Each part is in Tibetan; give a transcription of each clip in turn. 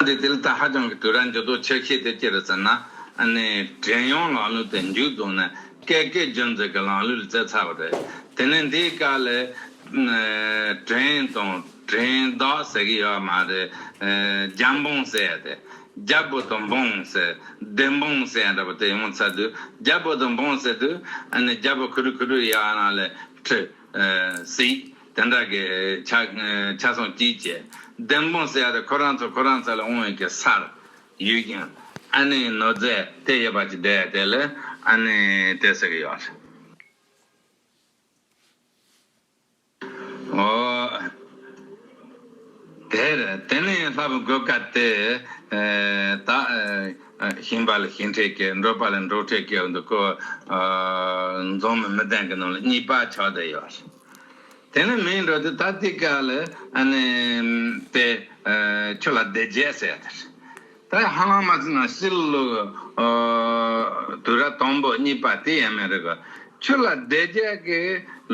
འདི་དུས་ད་ཧ་ཅང་གི་དུས་ར་འགྱུར་དོ་ཆོས་ཤེས་དེ་ཅི་རེད་ཟེར་ན་ནས་དྲན་ཡོང་ལག་ལུས་དེ་མཇུག་རྫོགས་ནས་སྐད་སྐད་རྒྱུན་འཛིན་གི་ལང་ལུས་ལ་བཙལ་ཚར་བ་རེད་དེ་ནས་འདིའི་སྐད་ལས་དྲན་དང་དྲན་བདག་ཟེར་གི་ཡོད་མ་རེད་རྒྱ་འབངས་ཟེར་ཡ་དེ་རྒྱ་བོད་དང་འབངས་ཟེར་བདེན་འབངས་ཟེར་ཡ་འདྲ་པོ་དེ་ཡོང་ཚར་དུས་རྒྱ་བོད་དང་འབངས་ཟེར་དུས་རྒྱ་བོད་ཁུ་རུ་ཁུ་རུ་ཡ་ན་ལས་ཁྲི་ཟིག། དེ་འདྲ་གི། ཆ་སོང་སྐྱིད་བཅས། བདེན་དཔང་སེ་ཡ་རེ་ཁོ་རང་ཚོ་ཁོ་རང་ཚོ་ལ་འོང་བའི་གི་སར། ཡོད་ཀྱང། ཨ་ནེ་ནོར་རྫས་དེ་ཡོད་པ་ཅིག་འདྲ་ཡ་དེ་ལ་ཨ་ནེ་དེ་ཟེར་གི་ཡོད་རེད། འོ། དེ་རེད་དེ་ནས་ལྷ་བུ་དགོས་དཀའ་དེ། དག། ཞིང་པ་ལ་ཞིང་ཁྲེགས་སྐྱེ་འབྲོག་པ་ལ་འབྲོག་ཁྲེགས་སྐྱེ་བ་འདུག་གོ། འཛོམས་མི་མི་ལྡན་གི་ནང་ལ་གཉིས་པ་ཆགས་བསྡད་ཡོད་རེད། དེ་ནི་མིའི་འགྲོ་དུས་ཐ་ཐིག་ག་ལ་དེ་ཁྱོད་ལ་དེ་རྗེས་ཟེར་ཡ་དེར་ད་ཧ་ལམ་མ་ཟིན་ན་སྲིད་ལུགས་དུས་རབས་དང་པོ་གཉིས་པ་དེ་ཡན་མི་རིག་གོ་ཁྱོད་ལ་དེ་རྗེས་ཀྱི་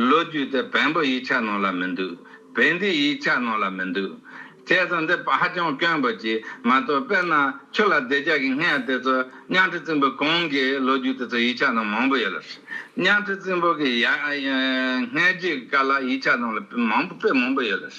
ལོ་རྒྱུས་དེ་བན་པོ་ཡིག་ཆ་ནང་ལ་མི་འདུག་བན་དེའི་ཡིག་ཆ་ནང་ལ་མི་འདུག། བྱས་ཙང་འདི་ཧ་ཅང་སྐྱོན་པོ་ཅིག་མ་གཏོགས་དཔེར་ན་ཁྱོད་ལ་བདེ་འཇགས་ཀྱི་སྔས་དེ་ཚོ་གཉའ་ཁྲི་རྩིང་པོ་གང་གི་ལོ་རྒྱུས་དེ་ཚོ་ཡིག་ཆ་ནང་མང་པོ་ཡོད་ལ། གཉའ་ཁྲི་རྩིང་པོ་གི་ཡ་སྔས་རྒྱུད་ཀྱི་སྐར་ལ་ཡིག་ཆ་ནང་ལ་མང་པོ་དཔེ་མང་པོ་ཡོད་ལ།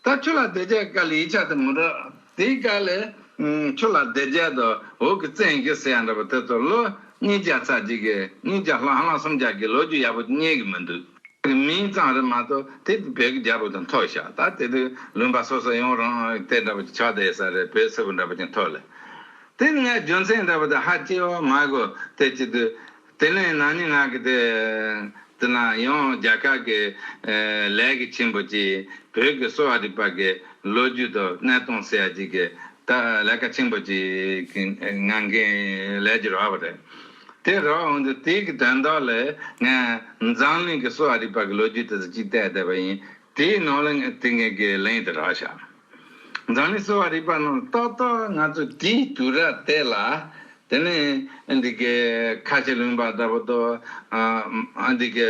ད་ཁྱོད་ལ་བདེ་འཇགས་ཀྱི་སྐར་ལ་ཡིག་ཆ་དེ་མི་འགྲོ། དེའི་སྐར་ལས། ཁྱོད་ལ་བདེ་འཇགས་དུ་འོག་གི་བཙན་གྱིས་བསད་འདྲ་པོ་དེ་ཚོ་ལོ་གཉིས་བརྒྱ་ཚར་གཅིག་གི་གཉིས་བརྒྱ་ལྷག་ལྷག་སུམ་བརྒྱ་གི་ལོ་རྒྱུས་ཡག་པོ་རྙེད་གི་མི་འདུག། མིང་གཙང་རེ་མ་གཏོགས་དེ་བོད་ཀྱི་རྒྱལ་པོ་དང་ཐོག་ཤག་ད་དེ་དུས་ལུང་པ་སོ་སོ་ཡོང་རུང་དེ་འདྲ་པོ་ཆགས་བསྡད་ས་རེད་བོད་སིལ་བུ་འདྲ་པོ་ཅིག་འཐོར་ལེ། དེ་སྔའི་རྒྱུ་མཚན་འདྲ་པོ་དེ་ཧ་ཅི་ཨོ་མ་གོ་དེ་སྐྱིད་དུས། དེ་ནས་ནང་སྙི་ང་གི་དེ་དུས་ན་ཡང་རྒྱ་གར་གྱི་ལས་ཀྱི་ཆེན་པོ་ཅིག་བོད་ཀྱི་གསོ་བ་རིག་པ་གྱི་ལོ་རྒྱུས་དང་གནས་སྟངས་སེ་ཡ་ཅིག་གི་ལས་ཀ་ཆེན་པོ་ཅིག་གི་ངང་གིས་ལས་ཀྱི་རོགས་པ་རེད། དེ་རགས་འོན་ཏེ་དེའི་གི་དོན་དག་ལས་ངས་འཛམ་གླིང་གི་སོ་ཨ་རི་པ་གི་ལོ་རྒྱུས་དེ་ཚོ་གཅིག་བལྟས་བསྡད་པ་ཡིན། དེའི་ནང་ལ་ངས་དེ་འགན་གི་ལན་དེ་རགས་བཞག། འཛམ་གླིང་སོ་ཨ་རི་པ་རྣམས་ལ་ཏག་ཏག་ང་ཚོས་དེའི་དུས་རགས་བལྟས་ལ། དེ་ནས་འདི་གི་ཁ་ཆེ་ལུང་པ་འདྲ་པོ་དོ། འདི་གི་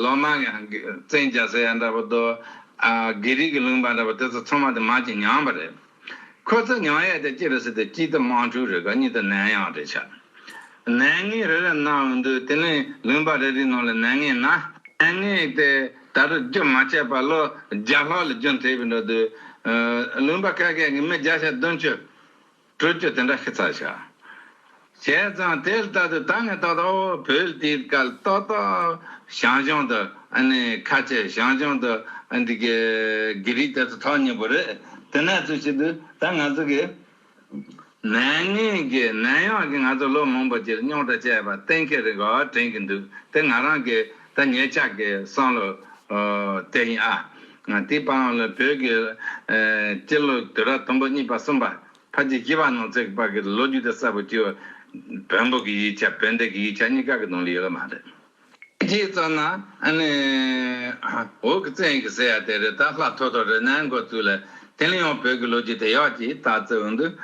ལོ་མང་གི་བཙན་རྒྱལ་ཟེར་ཡ་འདྲ་པོ་དོ། དགེ་རིག་གི་ལུང་པ་འདྲ་པོ་དེ་ཚོ་ཚང་མ་དེ་མ་གཅིག་ཉམས་པ་རེད། ཁོ་ཚོ་མྱང་ཡས་དེ་སྐྱེས་པའི་སྲིད་དུ་སྐྱིད་དམངས་ཕྲུག་རེ་དགའ་ཉིད་དུ་ནད་ཡང་རེ་ཆག། ནད་ངན་རེ་རེ་གནང་འདུག་དེ་ནས་ལུང་པ་རེ་རེའི་ནང་ལ་ནད་ངན་ན། ནད་ངན་དེ་ད་དུང་རྒྱུན་མ་ཆད་པར་ལོ་བརྒྱ་ལྷག་ལ་རྒྱུན་མཐེད་པའི་འགྲོ་དུས། ལུང་པ་ག་གེ་ངས་མི་བརྒྱ་ཆ་བདུན་བཅུ། དྲུག་བཅུ་དེ་འདྲ་ཤི་ཚར་ཤག། བྱས་ཙང་དེ་ལྟ་དུ་ད་ནི་ཏག་ཏག་བོད་དེའི་སྐལ་ཏག་ཏག་ཞང་ཞུང་དུ་ཨནི་ཁ་ཆེ་ཞང་ཞུང་དུ་འདི་གའི་གི་རིགས་དེ་ཚོ་ཐོག་ཉེ་པོ་རེད་དེ་ནས་ཚུལ་ཤིན་ཏུ་ད་ང་ཚོ་གི་ནད་ངན་གི་ནད་ཡོག་གི་ང་ཚོ་ལོ་མང་པོ་གྱིར་རྙོག་དྲ་བྱས་པ་གཏན་འཁེལ་རེ་འགའ་དྲན་གི་འདུག་དེ་ང་རང་གི་ད་ངེད་ཅག་གི་བསམ་བློ་དེ་ཡིན་ཨ་དེའི་པའང་ལ་བོད་གི་སྤྱི་ལོ་དུས་རབས་དང་པོ་གཉིས་པ་གསུམ་པ། ཕ་གི་སྐྱེ་བ་ནང་བརྩེགས་བར་གྱི་ལོ་རྒྱུས་དེ་གསལ་པོ་ཅི། བོན་པོ་གི་ཡིག་ཆ་བོན་སྡེ་གི་ཡིག་ཆ་གཉིས་ཀ་གི་ནང་ལ་ཡོད་ལ་མ་རེད། དེ་ཙམ་ན་ཨ་ནི། འོག་གི་བཙན་གྱི་ཟེར་ཡ་དེ་རེད་ད་ལྷག་ཐོག་ཐོག་རེད་ནའི་འགོ་བཙུགས་ལ། དེ་ནས་ཡང་བོད་ཀྱི་ལོ་རྒྱུས་དེ་ཡག་ཅིག་ལྟ་བརྩི་འོང་དུས།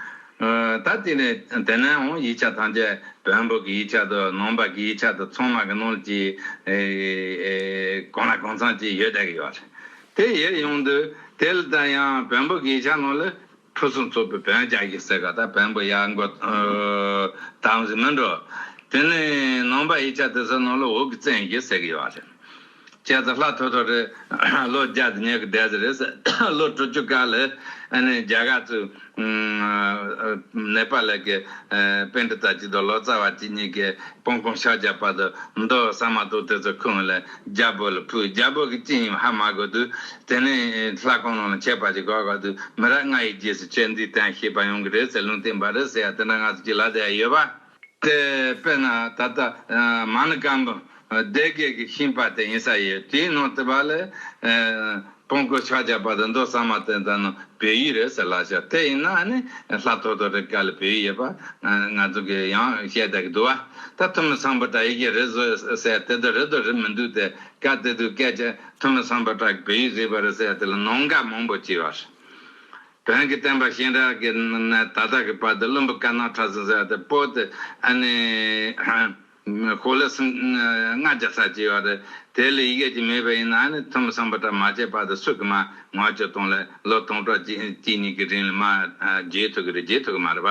ད་དེ་ནས་དེ་ནའི་འོང་ཡིག་ཆ་ཐམས་ཅད་བོན་པོ་གི་ཡིག་ཆ་དང་ནང་པ་གི་ཡིག་ཆ་དང་ཚང་མ་གི་ནང་ལ་ཅི། གང་ལ་གང་ཚང་ཅིག་ཡོད་བསྡད་ཀྱི་ཡོད་རེད། དེ་ཡོད་ཡོང་དུས་དེ་ལ་ད་ཡང་བོན་པོ་གི་ཡིག་ཆ་ནང་ལ། ཁྲུ་གསུམ་གཙོ་པོའི་བོན་བརྒྱ་ཡིག་གསལ་ཁ་དང་བོན་པོ་གཡག་མགོ་དང་གཟིམ་མི་འགྲོ། དེ་ནས་ནང་པ་ཡིག་ཆ་དེ་ཚོའི་ནང་ལ་འོག་གི་བཙན་ཞེས་གསལ་གི་ཡོད་རེད། ཁྱེད་ཚོ་ལྷ་ཐོ་ཐོ་རེད། ལོ་བརྒྱ་དང་ཉེར་བརྒྱད་ཟེར་རེད། ལོ་དྲུག་ཅུ་ཀ་ལ་རྒྱ་གར་གཙོས་ནེ་པ་ལ་གི་དཔོན་གྲི་ཚ་གཅིག་དང་ལོ་ཙཱ་བ་གཅིག་གཉིས་ཀས་སྤང་གོང་ཤག་བརྒྱབ་པ་དང་མདོ་བསམ་མ་གཏོགས་དེ་ཚོ་ཁུངས་ལ་རྒྱལ་པོ་ལ་ཕུལ། རྒྱལ་པོ་གྱིས་ཅི་ཡིན་ཧ་མ་གོ་དུས། དེ་ནས་ལྷ་གང་རུང་ལ་ཁྱད་པར་གྱི་དགའ་གོ་དུས། མི་རབས་ལྔ་ཡི་རྗེས་སུ་ཁྱེད་འདིའི་དན་ཤེས་པ་ཡོང་གི་རེད་ཟེར་ལུང་བསྟན་པ་རེད་ཟེར་ཡ་དེ་འདྲ་ང་ཚོ་གཅིག་ལ་ཟེར་ཡ་ཡོད་པ་དེ། དཔེར་ན་ད་ལྟ་མ་ནི་སྐམ་པོ་སྡེ་དགེ་གི་ཤིང་པ་དེ་ཡིན་ས་ཡོད་དེའི་ནང་དུ་བ་ལས། སྤོང་དགོས་ཕྱག་རྒྱ་བ་དང་མདོ་གསར་མ་དེ་དག་ནང་བོད་ཡིག་རེད་ཟེར་ལགས་ཤོག་དེ་ཡིན་ན་ནི་ལྷ་ཐོ་ཐོ་རེ་དཀའ་ལས་བོད་ཡིག་ཡོད་པ་ང་ཚོ་གི་ཡང་བཤད་བསྡད་གི་འདུག་བ་ད་ཐུ་མི་ཚང་བ་དག་ཡི་གེ་རེ་བཟོ་ཟེར་དེ་དག་རེ་དོ་རེ་མི་འདུག་དེ་དཀའ་དེ་དུས་སྐད་ཆ་ཐུ་མི་ཚང་བ་དག་གི་བོད་ཡིག་རིག་པ་རེ་ཟེར་དེ་ལ་ནོངས་འགལ་མང་པོ་བྱས་བ་རེད་བོན་གི་བསྟན་པ་གཤེན་རབ་ཀྱི་ནང་ནས་ད་ལྟ་གི་བར་དུ་བླུན་པོ་དཀར་ནག་ཁྲ་ཟིང་ཟེར་བ་དེ་སྤོ་དེ་ཨ་ནི། གོ་ལ་སྲིད་ལྔ་བརྒྱ་ཚར་གཅིག་ཡོད་རེད། དེ་ལས་ཡི་གེ་གཅིག་མེད་པ་ཡིན་ན་ནི་ཐུ་མི་ཚང་པ་གྲ་མ་བྱས་པ་དེ་སུ་གི་མ་ངོ་ཅི་སྟོང་ལས་ལོ་སྟོང་ཕྲག་གཅིག་གཉིས་ཀྱི་རིང་ལ་མ་བརྗེད་ཐུབ་ཀྱི་རེད་བརྗེད་ཐུབ་ཀྱི་མ་རེད་པ།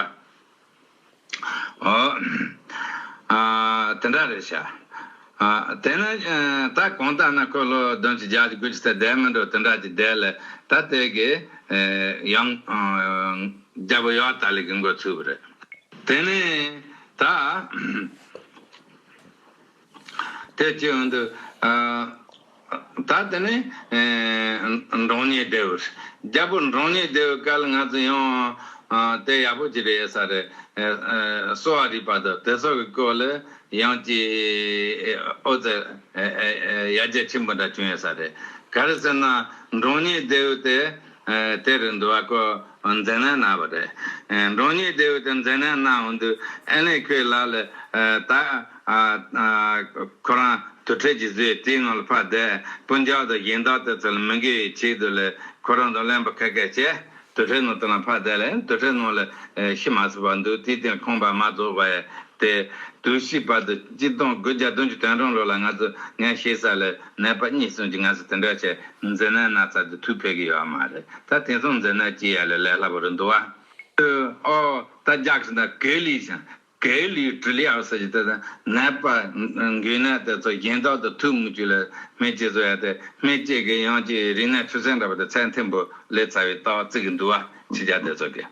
ཨོ། དེ་འདྲ་རེད་ཤག། དེ་ནི་ད་གང་ལྟར་ན་ཁོས་ལོ་བདུན་གྱི་རྒྱག་གྱི་དགོས་ཀྱི་ཚད་བསྡད་མི་འགྲོ་དེ་འདྲ་གྱི་བསྡད་ལ་ད་དེ་གི་ཡང་རྒྱབ་ཡོག་ད་ལས་གི་འགོ་ཚུགས་པ་རེད། དེ་ནི། དེ་ཅི་ཡང་དུ། ད་དེ་ནས། འབྲོང་ཉིད་སྡེ་བས། རྒྱལ་པོ་འབྲོང་ཉིད་སྡེ་བས་བསྐལ་ང་ཚོ་ཡང། དེ་ཡག་པོ་ཅི་རེད་ཡོད་ས་རེད། གསོ་བ་རིག་པ་དང་དེ་སོགས་ཀྱི་སྐོར་ལ་ཡང་ཅི། ཨོ་རྩལ། ཡར་རྒྱས་ཆེན་པོ་འདྲ་བྱུང་ཡོད་ས་རེད། ག་རེ་ཟེར་ན་འབྲོང་ཉིད་སྡེ་བས་དེ། དེར་འདུ་བ་ཀོ། འཛེ་ན་ན་བ་རེ། འབྲོང་ཉིད་བདེ་བོ་དེ་འཛེ་ན་ན་འོང་དུས་ཨེ་ལེ་ཁོའི་ལག་ལས། ད། ཁོ་རང་དུར་ཁྲོད་ཀྱི་བཟོའི་རྟའི་ངང་ལ་ཕར་དེད་སྤུན་ལྕག་དང་གཞན་དག་དེ་ཚོ་ལ་མི་འགལ་བའི་ཆེད་དུ་ལས་ཁོ་རང་དང་གླེན་པ་ཁད་ཁད་བྱས་དུར་ཁྲོད་ནང་དེ་ལ་ཕར་དེད་ལ་དུར་ཁྲོད་ནང་ལ་ཤི་མ་ཟིན་པར་འདུག་དེའི་སྟེང་ཁང་པ་མ་རྫོགས་པ་ཡ་དེ། དུས་ཕྱིས་བར་དུ་སྤྱི་སྟོང་དགུ་བརྒྱ་བདུན་ཅུ་དོན་གྲངས་ལོ་ལ་ང་ཚོ་ངའི་ཤེས་གསལ་ལས། ནད་པ་གཉིས་གསུམ་གྱིས་ང་ཚོ་དེ་འདྲ་བྱས་མཛད་ན་ན་ཚ་དེ་དུས་ཕེབས་ཀྱི་ཡོད་མ་རེད་ད་དེ་མཚུངས་མཛད་ན་ཅི་ཡ་ལེ་ལས་སླ་པོ་རེད་འདུག་བ། ཨོ། ད་རྒྱག་བཞིན་དང་གད་ལུས་བཞིན་གད་ལུས་དྲི་ལི་ཨོ་ཟེར་གྱི་དེ་དང་ནད་པ། འགུལ་ནད་དེ་ཚོ་གཞན་དག་དང་ཐུག་མི་ཆུག་ལ་སྨན་བཅོས་བཟོ་ཡ་དེ་སྨན་བཅོས་ཀྱི་ཡང་ཅིག་རིག་ནད་འཁྲུག་སེམས་འདྲ་པ་དེ་ཚད་མཐོན་པོ་ལས་ཚ་བའི་རྟགས་བརྩི་གི་འདུག་བ་ཕྱི་རྒྱ་དེ་ཚོ་གི།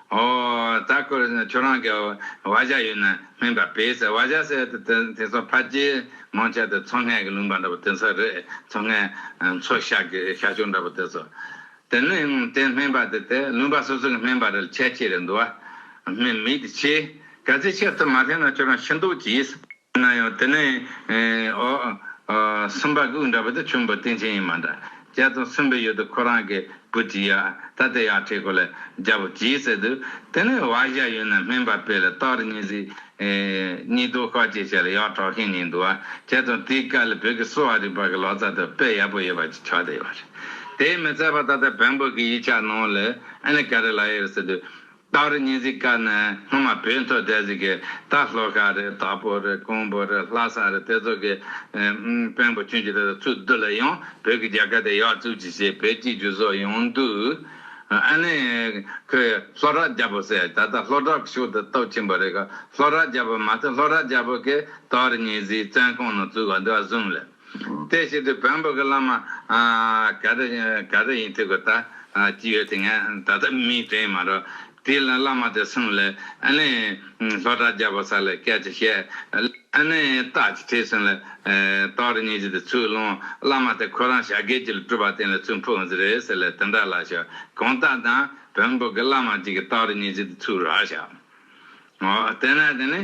ཨོ། ད་ཁོས་ཁྱོད་རང་གི་བ་བཞག་ཡོད་ན་སྨན་པ་བེད་ཟེར་བ་བཞག་ཟེར་ཏེ་དེ་དེ་ཚོ་ཕ་རྗེས་ངོ་ཆད་དེ་མཚོ་སྔས་ཀྱི་ལུང་པ་འདྲ་པོ་དེ་ཚོ་རེད་མཚོ་སྔས་མཚོ་ཤར་གྱི་ཤར་ཕྱོགས་འདྲ་པོ་དེ་ཚོ། དེ་ནི་དེ་སྨན་པ་དེ་དེ་ལུང་པ་སོ་སོ་གི་སྨན་པ་རེད་ཁྱད་ཆེ་རེད་འདུག་བ་སྨན་མི་དེ་ཁྱེད་ག་ཚོད་ཁྱེར་ཐུབ་མ་ཕེབས་ན་ཁྱོད་རང་ཤི་འདུག་གྱིས། ན་ཡང་དེ་ནི། སུམ་པ་གི་དབུགས་འདྲ་བོ་དེ་ཆུན་པོ་སྟེང་ཆེན་ཡིན་མ་འདྲ། བརྒྱད་དང་གསུམ་པའི་ཡུལ་དུ་ཁོ་རང་གི་བུ་གཅིག་ཡ་ད་དེ་ཡར་ཁྲིད་གོ་ལ་རྒྱ་བོ་གྱིས་བསད་དུས། དེ་ནི་བ་བཞའ་ཡུལ་ན་སྨན་པ་དཔལ་ལ་སྟག་རི་གཉིས་གཟིགས། གཉིས་དོ་ཤ་བཅས་བྱས་ལ་ཡར་གྲགས་མཁན་གཉིས་འདུག་བ་བརྒྱད་དང་དེའི་སྐལ་ལ་བོད་ཀྱི་གསོ་བ་རིག་པ་གི་ལོ་ཙཱ་དུ་དཔལ་ཡག་པོ་ཡོད་པ་ཅིག་ཆགས་བསྡད་ཡོད་པ་རེད། དེའི་མི་ཚད་པ་ད་ལྟ་བོན་པོ་གི་ཡིག་ཆ་ནང་ལ་ཨེ་ལི་ཀ་རི་ལ་ཡེར་ཟེར་དུས། སྟག་རི་གཉན་གཟིགས་ཀ་ནི་སྔོན་མ་བོད་མཐོ་ལྡེ་གཟིགས་ཀྱི་སྟག་ལྷོ་ཤ་རི་དྭགས་པོ་རི་རྐོང་པོ་རི་ལྷ་ས་རི་དེ་ཚོ་གི་དཔོན་པོ་ཁྱོད་ཀྱི་དེ་དག་ཚུར་བསྡུ་ལ་ཡང་བོད་ཀྱི་རྒྱལ་ཁ་དེ་ཡག་བཙུགས་ཅིག་ཞེས་བོད་སྤྱིའི་རྒྱུ་ཟོག་ཡོང་དུས་ཨ་ནི་ཁོས་ལྷོ་བྲག་རྒྱལ་པོ་ཟེར་ད་ལྟ་ལྷོ་བྲག་གི་ཕྱོགས་དེ་སྟོབས་ཆེན་པོ་རེད་ག་ལྷོ་བྲག་རྒྱལ་པོ་མ་མཐོ་ལྷོ་བྲག་རྒྱལ་པོ་གིས་སྟག་རི་གཉན་གཟིགས་བཙན་ཁང་ནང་བཙུགས་ག་འདི་བ་བཟུང་ལ། དེ་བཞིན་དུ་བོན་པོ་གི་བླ་མ་ག་རེ་ག་རེ་ཡིན་ཐུག་གི་ད་ཅི་ཡོད་དེ་ངས་ད་ལྟ་མིང་དྲན་མ་རོགས། དེའི་ལ་བླ་མ་དེ་སོང་ལས་ཨ་ནི་ལྷོ་བྲག་རྒྱལ་པོ་ས་ལ་སྐད་ཅིག་བཤད། ཨ་ནི་སྟག་ཅིག་ཁྲིད་སོང་ལས་སྟག་རི་གཉིས་ཀྱི་དེ་ཚུར་སློང་བླ་མ་དེ་ཁོ་རང་བྱ་དགའི་རྒྱུ་ལ་སྤྲུལ་པ་དེ་ལ་ཚུར་འཕུར་འོང་ཟེར་རེད་ཟེར་ལས་དེ་འདྲ་ལ་ཤོག་གང་ལྟར་དང་བོན་པོ་གི་བླ་མ་གཅིག་གི་སྟག་རི་གཉིས་ཀྱི་དེ་ཚུར་རག་ཤག། དེ་ནས་དེ་ནི་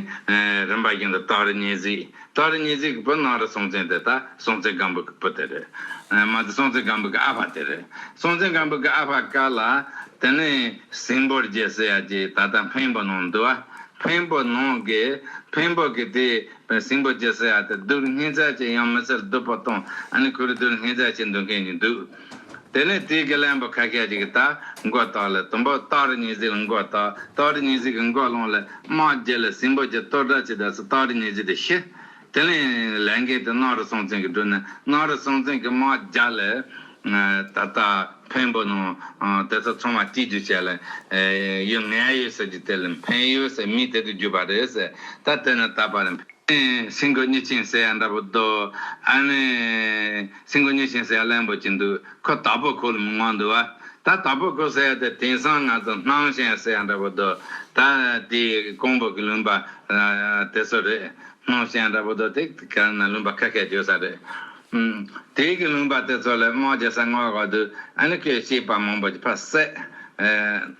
རིམ་པ་བཞིན་དུ་སྟག་རི་གཉིས་གཟིགས། སྟག་རི་གཉིས་གཟིགས་ཀྱི་བུ་ནང་རི་སྲོང་བཙན་དེ་དག་སྲོང་བཙན་སྒམ་པོ་གྱི་བུ་དེ་རེད། མ་དེ་སྲོང་བཙན་སྒམ་པོ་གྱི་ཨ་ཕ་དེ་རེད། སྲོང་བཙན་སྒམ་པོ་གྱི་ཨ་ཕ་ཀ་ལ་དེ་ནི་སིང་པོ་རྗེ་ཟེར་ཡ་ཅིག་ད་ལྟ་འཕན་པོ་ནང་འདུག་ཨ། འཕན་པོ་ནང་གི་འཕན་པོ་གྱི་དེ་སིང་པོ་རྗེ་ཟེར་ཡ་དེ་རྡུལ་སྙེད་ཚད་ཅིག་ཡང་མི་ཚད་རྡུལ་པོ་སྟོང་ཨ་ནི་ཁོ་རུ་རྡུལ་སྙེད་ཚད་ཅིག་འདུག་མཁན་གྱི་འདུག། དེ་ནས་དུས་ཀྱི་གླེན་པོ་ཁ་ཤས་ཀྱི་གིས་རྟ་མགོ་བཏགས་ལ་དུམ་བུ་སྟག་རི་ཉི་ཟིག་ལ་མགོ་བཏགས་སྟག་རི་ཉི་ཟིག་གི་མགོ་ལོང་ལ་དམག་བརྒྱད་ལ་སྲིན་པོ་བརྒྱད་གཏོར་དགྲ་བྱེད་དག་ས་སྟག་རི་ཉི་ཟིག་དུ་ཤི། དེ་ནས་ལས་འགན་དེ་སྣང་རུ་སྲོང་བཙན་གྱིས་བསྒྲུབས་ནས་སྣང་རུ་སྲོང་བཙན་གྱིས་དམག་བརྒྱ་ལ་ད་ལྟ་འཕན་པོ་ནང་དེ་ཚོ་ཚང་མ་སྐྱིད་རྒྱུ་བྱས་ལ་ཡུལ་ངན་ཡུལ་ཟེར་རྒྱུ་དེ་ལ་འཕན་ཡུལ་ཟེར་མིང་དེ་དུ་གྱུར་པ་རེད་ཟེར་ད་དེ་ནས་ད་བར་འཕན་སྲིན་གོ་སྙི་ཆིངས་ཟེར་ཡ་འདྲ་པོ་འདུག་ཨ་ནི། སེམས་ཀྱི་མྱོས་ཤིང་སེར་ལམ་པོ་ཅི་འདུག་ཁོ་དྭགས་པོ་ཁོ་ལ་མི་དབང་འདུག་བ། ད་དྭགས་པོ་ཁོ་སེར་དེ་དེང་སང་ང་ཚོ་སྣང་ཞེན་སེར་འདྲ་པོ་འདུག་ད། དེ་ཀོང་པོ་གི་ལུང་པ་དེ་ཚོ་རེད། སྣང་ཞེན་འདྲ་པོ་འདུག་དེ་ག་རེ་ན་ལུང་པ་ཁ་ཁས་བརྗོད་ས་རེད། དེ་གི་ལུང་པ་དེ་ཚོ་ལ་དམག་བརྗེ་ས་སྔོག་ག་འདུག་ཨ་ནི་ཁོས་བཤད་པ་མང་པོ་ཕ་བསད།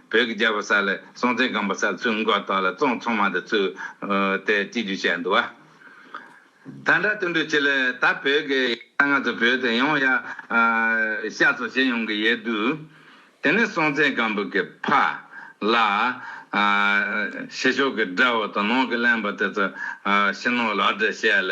བོད་ཀྱི་རྒྱལ་པོ་ས་ལའི་སྲོང་བཙན་སྒམ་པོ་ས་ལ་ཚུར་མགོ་བཏགས་ལ་བཙོང་ཚོང་མ་འདི་ཚུར་ཏེ་སྤྱི་རྒྱུ་བྱས་འདུག་བ། ད་འདྲ་ཏུ་འདུག་ཆེད་ལས་ད་བོད་ཀྱི། ད་ང་ཚོ་བོད་དུ་ཡོང་ཡ། ཤ་ཚོ་བྱེད་ཡོང་གི་ཡོད་འདུག། དེ་ནས་སྲོང་བཙན་སྒམ་པོ་གི་ཕ། ལ། ཕྱི་ཕྱོགས་ཀྱི་དགྲ་བོ་དང་ནང་གི་གླེན་པ་དེ་ཚོ། ཕྱི་ནང་ལག་སྦྲེལ་བྱས་ལ།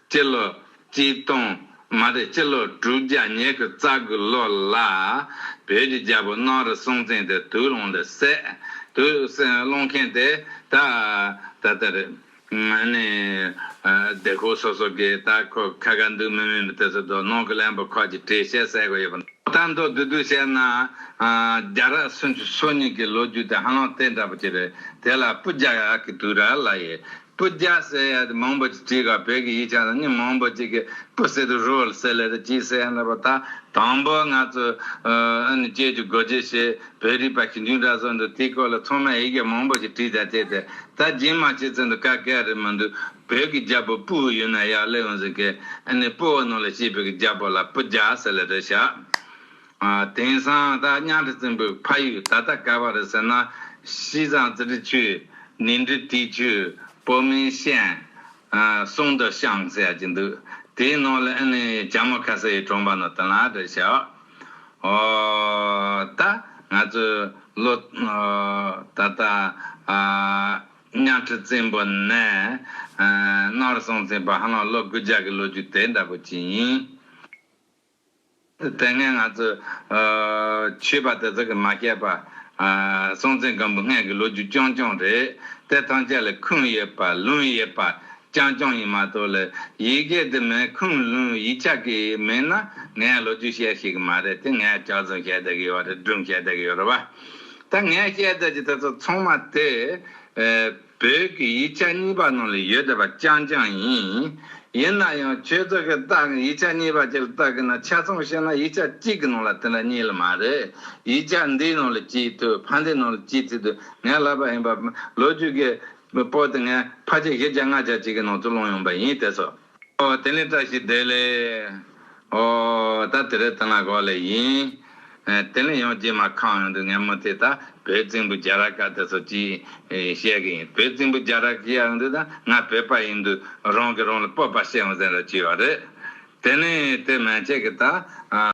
སྤྱི་ལོ་གཅིག་སྟོང་མ་རེད་སྤྱི་ལོ་དྲུག་བརྒྱ་ཉེ་གི་རྩ་དགུ་ལོ་ལ་བོད་ཀྱི་རྒྱལ་པོ་སྣང་རི་སྲོང་བཙན་དེ་དུག་སློང་ལ་སད། དུག་སློང་མཁན་དེ་ད་ད་ལྟ་རེད། ནས་སྡེ་ཁུལ་སོ་སོ་གི་ད་ཁོ་ཁ་ཁ་འདུག་མི་མི་མི་དེ་ཚོ་དོ་སྣང་གི་ལན་པོ་ཁག་ཅིག་བྲིས་བཤད་གསལ་གོ་ཡོད་པ། ད་མདོ་བདུད་དུ་བཤད་ན་རྒྱ་ར་སུན་ཆུ་སོ་གཉིས་ཀྱི་ལོ་རྒྱུས་དེ་ཧ་ལམ་དེ་འདྲ་པོ་ཅིག་རེད་དེ་ལ་སྤུ་རྒྱ་གི་དུག་ར་ལ་ཡི་སྤུ་རྒྱ་སེ་ཡ་དེ་མང་པོ་ཅིག་བྲིས་ཁར་བོད་ཀྱི་ཡིག་ཆ་ལ་ནི་མང་པོ་ཅིག་གི་སྤུ་སེ་དུ་རུ་ལ་སེ་ལེ་རེ་ཅིག་སེ་ཡ་འདྲ་པོ་ད་དང་པོ་ང་ཚོ་ཨ་ནི་བཅས་ཀྱི་སྒོ་འབྱེད་ཞེས་བོད་རིག་པ་ཞིབ་འཇུག་འདྲ་བཟོ་འདུག་དེའི་སྐོར་ལ་ཚང་མས་ཡིག་གེ་མང་པོ་ཞིག་བྲིས་དང་བཅས་ཏེ་ད་སྦྱིན་མ་བྱེད་ཚུལ་འདི་ཀ་གེ་རེད་མི་འདུག་བོད་ཀྱི་རྒྱ་བོད་སྤུའུ་ཡོད་ན་ཡག་ལེ་ཡོང་ཟིག་གེ་ཨ་ནི་སྤུའུ་ནང་ལ་ཤེས་བོད་ཀྱི་རྒྱ་བོད་ལ་སྤུ་རྒྱ་སེ་ལེ་རེ་བཞག། དེང་སང་ད་གཉའ་ཁྲི་བཙན་པོའི་ཕ་ཡུལ་ད་ལྟ་ག་བ་རེད་ཟེར་ན། གཤིས་བཟང་ཙི་ཏྲི་ཆུས། ནིང་ཏྲི་ཏི་ཆུས། པོ་མིན་ཤན། སུང་ཏོ་ཤང་ཟེར་གྱི་འདུག་དེའི་ནང་ལ་ཨེ་ནི་བྱ་མོ་ཁ་སེ་ཡི་གྲོང་པ་ནོ་ཏི་ལ་རེད་ཤག་ཨོ། ད་ང་ཚོས་ལོ། ད་ད་གཉའ་ཁྲི་བཙན་པོ་ནས། ནོར་སྲུང་ཚན་པ་ཧ་ལམ་ལོ་དགུ་བརྒྱ་གི་ལོ་རྒྱུས་དེ་འདྲ་པོ་ཅིག་ཡིན། དེ་ནས་ང་ཚོས་མཆོད་པ་དེ་དག་གི་མ་སྐྱེས་པ་སྲོང་བཙན་སྒམ་པོ་སྔས་ཀྱི་ལོ་རྒྱུས་རྐྱང་རྐྱང་རེད། དེ་ཐམས་ཅད་ལ་ཁུངས་ཡོད་པ་ལུང་ཡོད་པ་རྐྱང་རྐྱང་ཡིན་མ་གཏོགས་ལ་ཡི་གེ་དེ་མེད་ཁུངས་ལུང་ཡིག་ཆ་གི་མེད་ན་ངས་ལོ་རྒྱུས་བཤད་ཤེས་གི་མ་རེད་དེ་ངས་གྲགས་རྫུན་བཤད་བསྡད་ཀྱི་ཡོད་རེད་སྒྲུང་བཤད་བསྡད་ཀྱི་ཡོད་རེད་བ། ད་ངས་བཤད་བསྡད་ཀྱི་དེ་ཚོ་ཚང་མ་དེ། བོད་ཀྱི་ཡིག་ཆ་གཉིས་པ་ནང་ལ་ཡོད་བསྡད་པ་རྐྱང་རྐྱང་ཡིན། ཡིན་ན་ཡང་ཁྱོད་ཚོ་གིས་བལྟ་གིན་ཡིག་ཆ་གཉིས་པ་དེར་བལྟ་གིན་ན་ཆ་ཚང་བཤད་ན་ཡིག་ཆ་གཅིག་གི་ནང་ལ་དེ་འདྲ་གཉིས་ལ་མ་རེད། ཡིག་ཆ་འདིའི་ནང་ལ་སྤྱིའི་དུས་ཕ་འདིའི་ནང་ལ་སྤྱིའི་ཚིག་དུས་ངས་ལབ་པ་ཡིན་པ། ལོ་རྒྱུས་ཀྱི་པོ་དེ་ངས་ཕ་ཆེ་བཞི་བརྒྱ་ལྔ་བརྒྱ་ཅིག་གི་ནང་དུ་སློང་ཡོང་པ་ཡིན་དེ་སོགས། དེ་ནས་བཀྲ་ཤིས་བདེ་ལེགས། ཨོ། ད་དེ་རེད་ཐང་ལ་གོ་ལེ་ཡིན། དེ་ལས་ཡང་རྗེས་མ་ཁང་ཡོང་དུས་ངས་མུ་མཐུད་ད་བོད་རྫིང་བུ་རྒྱ་རག་ག་དེ་ཚོ་ཅིག་བཤད་གི་ཡིན་བོད་རྫིང་བུ་རྒྱ་རག་གི་ཡག་འདུག་ད་ང་བོད་པ་ཡིན་དུས་རང་གི་རང་ལ་སྤོབས་པ་བཤད་འོང་ཟེར་ན་ཅི་ཡོད་རེད། དེ་ནས་དེ་མན་ཆད་ཀྱི་ད།